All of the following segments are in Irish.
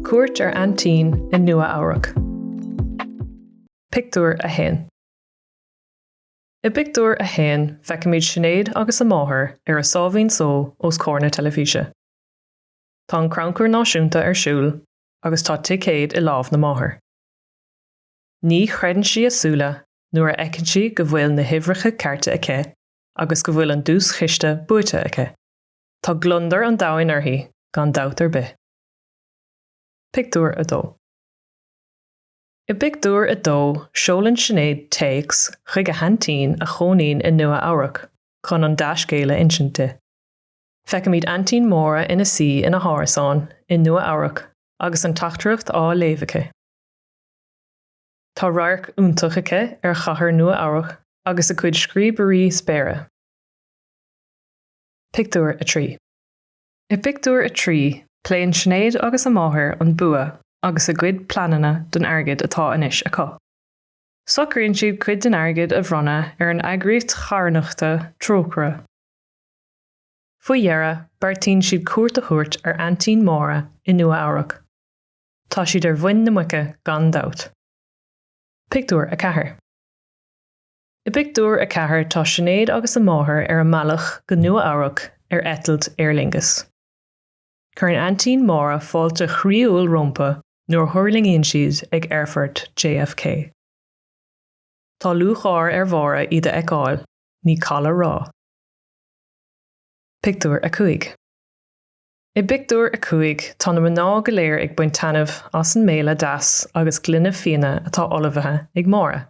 Cuairt ar aintín i Nua-Eabhrac. Pictiúr 1 I bpictiúr a haon feicimid Sinéad agus a máthair ar a sáimhín só os comhair na teilifíse. Tá an Crannchur Náisiúnta ar siúl agus tá ticéad i lámh na máthar. Ní chreideann sí a súile nuair a fheiceann sí go bhfuil na huimhreacha cearta aici. agus go bhfuil an duaischiste buaite aici. Tá gliondar an domhain uirthi, gan dabht ar bith. Pictiúr 2 I bpictiúr a dó, seolann Sinéad téacs chuig a haintín a chónaíonn i Nua-Eabhrac chun an dea-scéal a insint di. Feicimid Aintín Máire ina suí ina hárasán i Nua-Eabhrac agus an teachtaireacht á léamh aici. Tá radharc iontach aici ar chathair Nua-Eabhrac agus a cuid scríobairí spéire. Pictiúr 3 I bpictiúr a trí, pléann Sinéad agus a máthair an bua agus a gcuid pleananna don airgead atá anois acu. Socraíonn siad cuid den airgead a bhronnadh ar an eagraíocht charthanachta Trócaire. Faoi dheireadh, beartaíonn siad cuairt a thabhairt ar aintín Máire i Nua-Eabhrac. Tá siad ar mhuin na muice gan dabht. Pictiúr 4 I bpictiúr a ceathair tá Sinéad agus a máthair ar a mbealach go Nua-Eabhrac ar eitilt Aer Lingus. Cuireann aintín Máire fáilte chroíúil rompu nuair a thuirlingíonn siad ag aerfort JFK. Tá lúcháir ar Mháire iad a fheiceáil, ní call a rá. Pictiúr 5. I bpictiúr 5, tá na mná go léir ag baint taitneamh as an mbéile deas agus gloine fíona atá ullmhaithe ag Máire.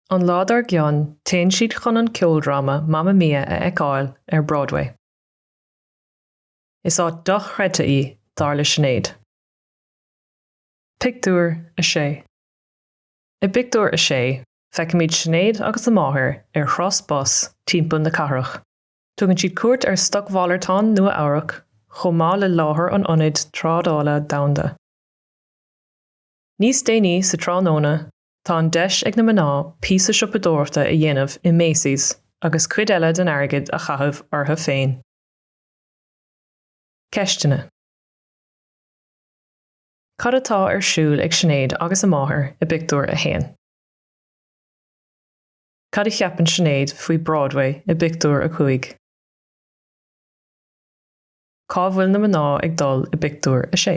An lá dár gcionn, téann siad chun an ceoldráma Mamma Mia a fheiceáil ar Broadway. Is áit dochreidte í, dar le Sinéad. Pictiúr 6, I bpictiúr 6, feicimid Sinéad agus a máthair ar thuras bus timpeall na cathrach. Tugann siad cuairt ar stocmhalartán Nua-Eabhrac chomh maith le láthair an Ionaid Trádála Domhanda. Níos déanaí sa tráthnóna tá an deis ag na mná píosa siopadóireachta a dhéanamh i Macy's agus cuid eile den airgead a chaitheamh orthu féin. Ceisteanna. Cad atá ar siúl ag Sinéad agus a máthair i bpictiúr a haon? Cad a cheapann Sinéad faoi Broadway i bpictiúr a cúig? Cá bhfuil na mná ag dul i bpictiúr a sé?